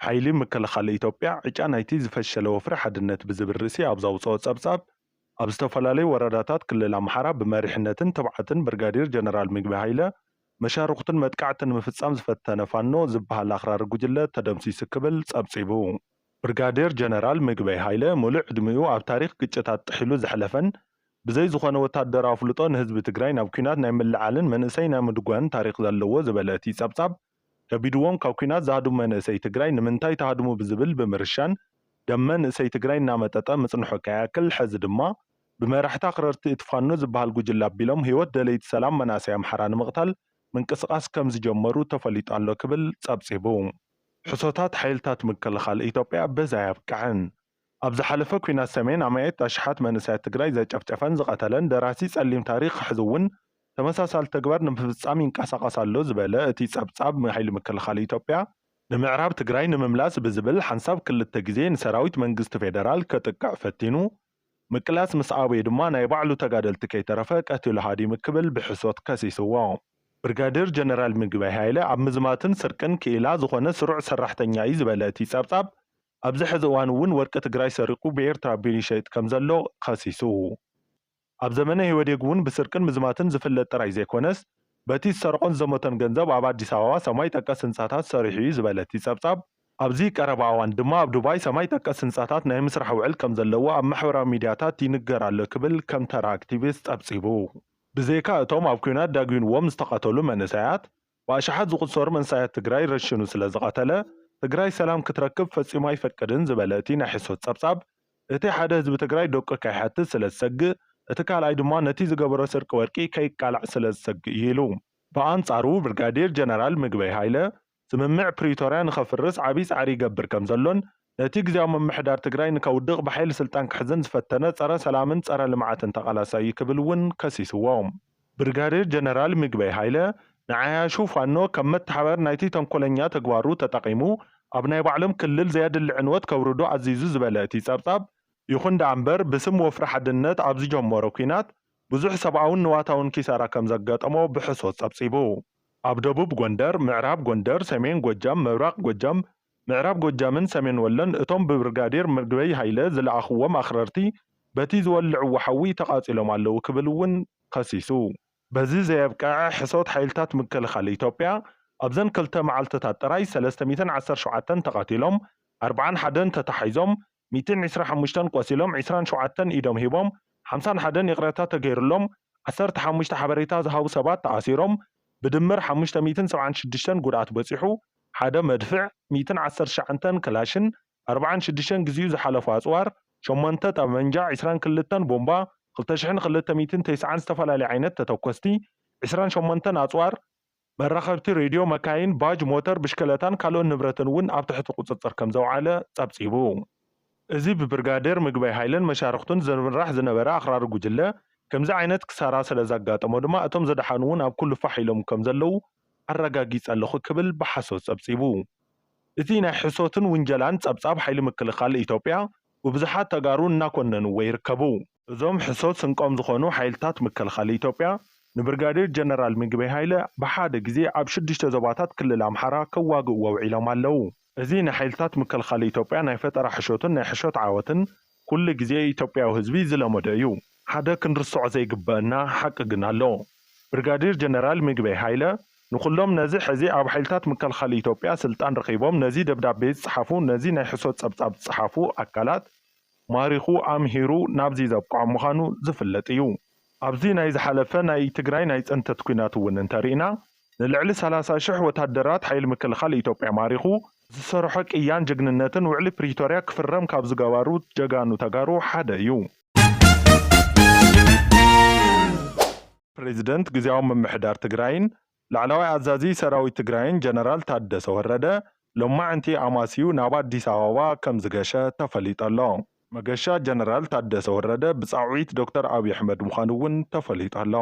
ሓይሊ ምክልኻል ኢትዮጵያ ዕጫ ናይቲ ዝፈሸለ ወፍሪ ሓድነት ብዝብል ርእሲ ኣብ ዘውፀኦ ፀብፃብ፣ ኣብ ዝተፈላለዩ ወረዳታት ክልል ኣምሓራ ብመሪሕነትን ትብዓትን ብርጋዴር ጀነራል ምግበይ ሃይለ መሻርኹቱን መጥቃዕቲ ንምፍፃም ዝፈተነ ፋኖ ዝበሃል ኣኽራሪ ጉጅለ ተደምሲሱ ክብል ፀብፂቡ። ብርጋዴር ጀነራል ምግበይ ሃይለ ሙሉእ ዕድሚኡ ኣብ ታሪኽ ግጭታት ጥሒሉ ዘሕለፈን ብዘይ ዝኾነ ወታደራዊ ኣፍልጦ ንህዝቢ ትግራይ ናብ ኲናት ናይ ምልዕዓልን መንእሰይ ናይ ምድጓንን ታሪኽ ዘለዎ ዝበለ እቲ ፀብፃብ፣ ከቢድዎም ካብ ኲናት ዝሃድሙ መንእሰይ ትግራይ ንምንታይ ትሃድሙ ብዝብል ብምርሻን ደም መንእሰይ ትግራይ እናመጠጠ ምፅንሑ ከይኣክል ሐዚ ድማ ብመራሕቲ ኣኽረርቲ እቲ ፋኖ ዝበሃል ጉጅለ ኣቢሎም ህይወት ደለይቲ ሰላም መናእሰይ ኣምሓራ ንምቕታል ምንቅስቓስ ከምዝጀመሩ ተፈሊጡ ኣሎ ክብል ፀብፂቡ። ሕሶታት ሓይልታት ምክልኻል ኢትዮጵያ በዚ ኣየብቅዐን። ኣብ ዝሓለፈ ኲናት ሰሜን ኣማኢት ኣሽሓት መንእሰያት ትግራይ ዘጨፍጨፈን ዝቐተለን ደራሲ ጸሊም ታሪኽ ሕዚ'ውን ተመሳሳሊ ተግባር ንምፍጻም ይንቀሳቐስ ኣሎ ዝበለ እቲ ጸብጻብ ሓይሊ ምክልኻል ኢትዮጵያ፣ ንምዕራብ ትግራይ ንምምላስ ብዝብል ሓንሳብ ክልተ ግዜ ንሰራዊት መንግስቲ ፌደራል ከጥቅዕ ፈቲኑ ምቅላስ ምስ ኣበዮ ድማ ናይ ባዕሉ ተጋደልቲ ከይተረፈ ቀቲሉ ሃዲሙ ክብል ብሕሶት ከሲስዎ። ብርጋዴር ጀነራል ምግበይ ሃይለ ኣብ ምዝማትን ስርቅን ክኢላ ዝኾነ ስሩዕ ሰራሕተኛ'ዩ ዝበለ እቲ ጸብጻብ፣ ኣብዚ ሕዚ እዋን እውን ወርቂ ትግራይ ሰሪቑ ብኤርትራ ቢር ይሸይጥ ከምዘሎ ኸሲሱ። ኣብ ዘመነ ኢህወዴግ እውን ብስርቅን ምዝማትን ዝፍለጥ ጥራይ ዘይኮነስ በቲ ዝሰረቖን ዝዘመቶን ገንዘብ ኣብ ኣዲስ ኣበባ ሰማይ ጠቀስ ህንፃታት ሰሪሑ እዩ ዝበለ እቲ ፀብፃብ፣ ኣብዚ ቀረባ እዋን ድማ ኣብ ዱባይ ሰማይ ጠቀስ ህንፃታት ናይ ምስራሕ ውዕል ከምዘለዎ ኣብ ማሕበራዊ ሚድያታት ይንገር ኣሎ ክብል ከም ተራ ኣክቲቪስት ፀብፂቡ። ብዘይካ እቶም ኣብ ኲናት ዳጒንዎም ዝተቐተሉ መንእሰያት፣ ብኣሽሓት ዝቑጸሩ መንሰያት ትግራይ ረሺኑ ስለ ዝቐተለ፣ ትግራይ ሰላም ክትረክብ ፈጺሙ ኣይፈቅድን ዝበለ እቲ ናይ ሕሶት ጸብጻብ፣ እቲ ሓደ ህዝቢ ትግራይ ደቁ ከይሓትት ስለ ዝሰግእ፣ እቲ ካልኣይ ድማ ነቲ ዝገበሮ ስርቂ ወርቂ ከይቃላዕ ስለ ዝሰግእ እዩ ኢሉ። ብኣንጻሩ ብርጋዴር ጀነራል ምግበይ ሃይለ፣ ስምምዕ ፕሪቶርያ ንኸፍርስ ዓብይ ጻዕሪ ይገብር ከም ዘሎን፣ እቲ ግዝያዊ ምምሕዳር ትግራይ ንከውድቕ ብሓይሊ ስልጣን ክሕዝን ዝፈተነ ፀረ ሰላምን ፀረ ልምዓትን ተቓላሳይ እዩ ክብል እውን ከሲስዎ። ብርጋዴር ጀነራል ምግበይ ሃይለ ንዓያሹ ፋኖ ከም መተሓባበሪ ናይቲ ተንኮለኛ ተግባሩ ተጠቒሙ ኣብ ናይ ባዕሎም ክልል ዘየድሊ ዕንወት ከውርዱ ኣዚዙ ዝበለ እቲ ፀብፃብ፣ ይኹን ደኣ እምበር ብስም ወፍሪ ሓድነት ኣብ ዝጀመሮ ኲናት ብዙሕ ሰብኣውን ንዋታውን ኪሳራ ከም ዘጋጠሞ ብሕሶት ፀብፂቡ። ኣብ ደቡብ ጎንደር፣ ምዕራብ ጎንደር፣ ሰሜን ጎጃም፣ ምብራቕ ጎጃም፣ ምዕራብ ጎጃምን ሰሜን ወሎን እቶም ብብርጋዴር ምግበይ ሃይለ ዝለኣኹዎም ኣኽረርቲ በቲ ዝወልዕዎ ሓዊ ተቓፂሎም ኣለዉ ክብል እውን ከሲሱ። በዚ ዘየብቀዐ ሕሶት ሓይልታት ምክልኻል ኢትዮጵያ ኣብዘን ክልተ መዓልቲታት ጥራይ ሰለስተ ሚእትን ዓሰርተ ሸውዓተን ተቓቲሎም ኣርብዓን ሓደን ተታሒዞም ሚእትን ዕስራ ሓሙሽተን ቆሲሎም ዕስራን ሸውዓተን ኢዶም ሂቦም ሓምሳን ሓደን ይቕረታ ተገይሩሎም ዓሰርተ ሓሙሽተ ሓበሬታ ዝሃቡ ሰባት ተኣሲሮም ብድምር ሓሙሽተ ሚእትን ሰብዓን ሽዱሽተን ጉድኣት በፂሑ ሓደ መድፍዕ ሚእትን ዓሰርተ ትሽዓንተን ክላሽን ኣርብዓን ሽዱሽተን ግዚኡ ዝሓለፎ ኣፅዋር ሸሞንተ ጠበንጃ ዕስራን ክልተን ቦምባ ክልተ ሽሕን ክልተ ሚእትን ተስዓን ዝተፈላለዩ ዓይነት ተተኮስቲ ዕስራን ሸሞንተን ኣፅዋር መራኸብቲ ሬድዮ፣ መካይን፣ ባጅ፣ ሞተር ብሽክለታን ካልኦት ንብረትን እውን ኣብ ትሕቲ ቁፅፅር ከምዘውዓለ ፀብፂቡ። እዚ ብብርጋዴር ምግበይ ሃይለን መሻርኽቱን ዝምራሕ ዝነበረ ኣኽራሪ ጉጅለ ከምዚ ዓይነት ክሳራ ስለዘጋጠሞ ድማ እቶም ዝደሓኑ እውን ኣብ ኩሉ ፋሕ ኢሎም ከምዘለዉ ኣረጋጊፀ ኣለኹ ክብል ብሓሶት ፀብፂቡ። እቲ ናይ ሕሶትን ውንጀላን ፀብፃብ ሓይሊ ምክልኻል ኢትዮጵያ፣ ብብዙሓት ተጋሩ እናኮነንዎ ይርከቡ። እዞም ሕሶት ስንቆም ዝኾኑ ሓይልታት ምክልኻል ኢትዮጵያ፣ ንብርጋዴር ጀነራል ምግበይ ሃይለ ብሓደ ግዜ ኣብ ሽዱሽተ ዞባታት ክልል ኣምሓራ ከዋግእዎ ውዒሎም ኣለዉ። እዚ ናይ ሓይልታት ምክልኻል ኢትዮጵያ ናይ ፈጠራ ሕሾትን ናይ ሕሾት ዓወትን ኩሉ ግዜ ኢትዮጵያዊ ህዝቢ ዝለመዶ እዩ። ሓደ ክንርስዖ ዘይግበእና ሓቂ ግን ኣሎ። ብርጋዴር ጀነራል ምግበይ ሃይለ ንኹሎም ነዚ ሕዚ ኣብ ሓይልታት ምክልኻል ኢትዮጵያ ስልጣን ረኺቦም ነዚ ደብዳቤ ዝጸሓፉ ነዚ ናይ ሕሶት ጸብጻብ ዝጸሓፉ ኣካላት ማሪኹ ኣምሂሩ ናብዚ ዘብቀዖም ምዃኑ ዝፍለጥ እዩ። ኣብዚ ናይ ዝሓለፈ ናይ ትግራይ ናይ ጽንተት ኲናት እውን እንተሪእና ንልዕሊ ሰላሳ ሽሕ ወታደራት ሓይሊ ምክልኻል ኢትዮጵያ ማሪኹ፣ ዝሰርሖ ቅያን ጅግንነትን ውዕሊ ፕሪቶርያ ክፍረም ካብ ዝገባሩ ጀጋኑ ተጋሩ ሓደ እዩ። ፕሬዚደንት ግዝያዊ ምምሕዳር ትግራይን ላዕለዋይ ኣዛዚ ሰራዊት ትግራይን ጀነራል ታደሰ ወረደ ሎማዕንቲ ኣማስዩ ናብ ኣዲስ ኣበባ ከምዝገሸ ተፈሊጠሎ። መገሻ ጀነራል ታደሰ ወረደ ብፃውዒት ዶክተር ኣብይ ኣሕመድ ምዃኑ እውን ተፈሊጠሎ።